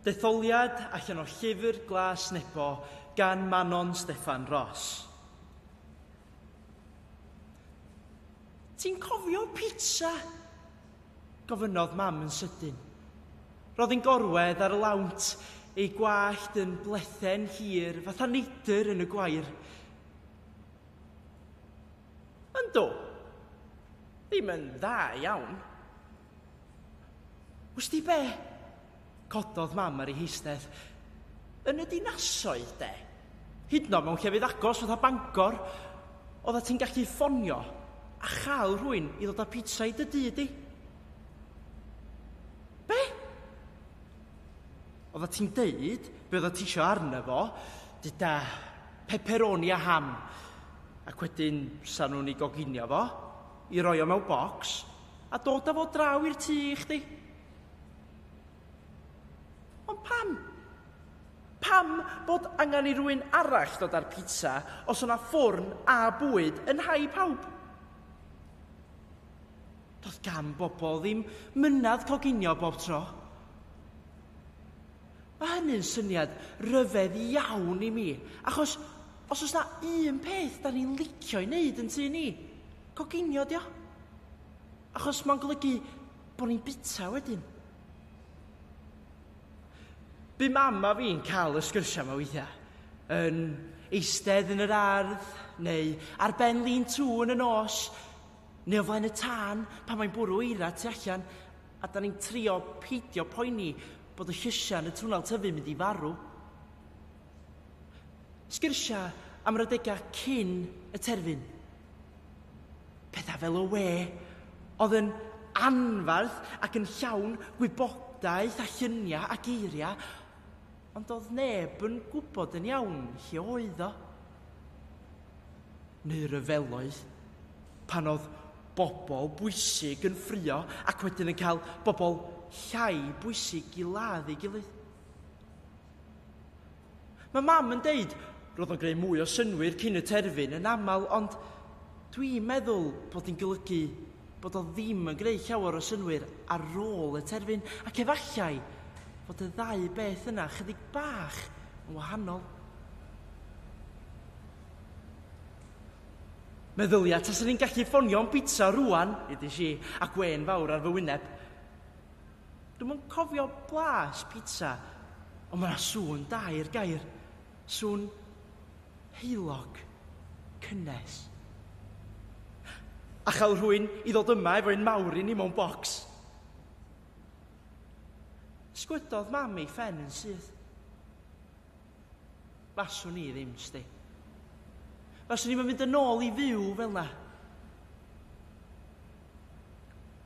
Detholiad allan o Llyfr Glas Nebo gan Manon Steffan Ros. Ti'n cofio pizza? gofynnodd Mam yn sydyn. Roedd yn gorwedd ar y lawnt, ei gwallt yn blethen hir fatha neidr yn y gwair. Yndw. Ddim yn dda iawn. Wst ti be? Cododd mam ar ei heistedd. Yn y dinasoedd, de? Hydno mewn llefydd agos fatha Bangor, oedda ti'n gallu ffonio a chael rhywun i ddod â pizza i dy dŷ di. Be? Oedda ti'n deud be oedda ti isio arno fo, dyda pepperoni a ham, ac wedyn sa nhw'n ei goginio fo, I roi o mewn bocs a dod a fo draw i'r tŷ i chdi. Ond pam? Pam bod angen i rywun arall dod â'r pizza os o'na ffwrn a bwyd yn nhai pawb? Doedd gan bobl ddim myned coginio bob tro. Mae hynny'n syniad rhyfedd iawn i mi, achos os oes 'na un peth 'dan ni'n licio'i wneud yn tŷ ni, coginio 'di o. Achos mae'n golygu bod ni'n bita wedyn. Bu mam a fi'n cael y sgyrsiau yma weithiau, yn eistedd yn yr ardd, neu ar ben lin tŵ yn y nos, Neu o flaen y tân pan mae'n bwrw eira tu allan a 'dan ni'n trio peidio poeni bod y llysiau yn y twnnel tyfu'n mynd i farw. Sgyrsiau am yr adegau cyn y terfyn. Pethau fel y we oedd yn anferth ac yn llawn gwybodaeth a lluniau a geiriau. Ond doedd neb yn gwybod yn iawn lle oedd o. Neu ryfeloedd. Pan oedd bobl bwysig yn ffrio ac wedyn yn cael bobl llai bwysig i ladd ei gilydd. Mae mam yn deud, roedd o'n greu mwy o synwyr cyn y terfyn yn aml, ond dwi'n meddwl bod hi'n golygu bod o ddim yn gwneud llawer o synnwyr ar rôl y terfyn, ac efallai fod y ddau beth yna chydig bach yn wahanol. Meddylia tase ni'n gallu ffonio am bizza rwan, ydy si, a gwên fawr ar fy wyneb. Dwi'm yn cofio blas pizza, ond mae 'na sŵn da i'r gair. Sŵn heulog cynnes. A chael rhywun i ddod yma efo un mawr i ni mewn bocs. Sgwyddodd mam ei phen yn syth. Faswn i ddim, sti. Faswn i'm yn mynd yn ôl i fyw fel 'na.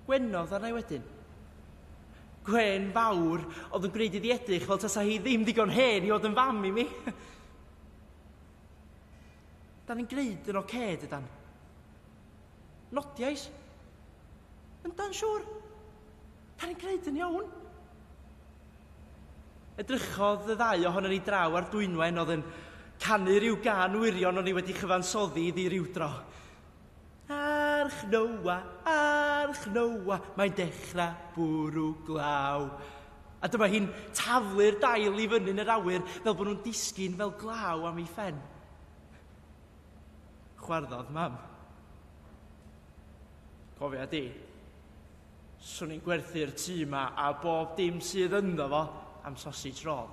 Gwenodd arna i wedyn. Gwên fawr oedd yn gwneud iddi edrych fel tasa hi ddim digon hen i fod yn fam i mi. Da ni'n gwneud yn oce, okay, dydan? Nodiais. Yndan, siŵr. Da ni'n gwneud yn iawn. Edrychodd y ddau ohono ni draw ar dwynwen oedd yn canu rhyw gan wirion o'n i wedi chyfansoddi iddi rhyw dro. Arch Noa, arch Noa, mae'n dechrau bwrw glaw. A dyma hi'n taflu'r dail i fyny'n yr awyr fel bod nhw'n disgyn fel glaw am ei phen. Chwarddodd mam. Cofia di, swn i'n gwerthu'r tŷ yma a bob dim sydd ynddo fo am sausage roll.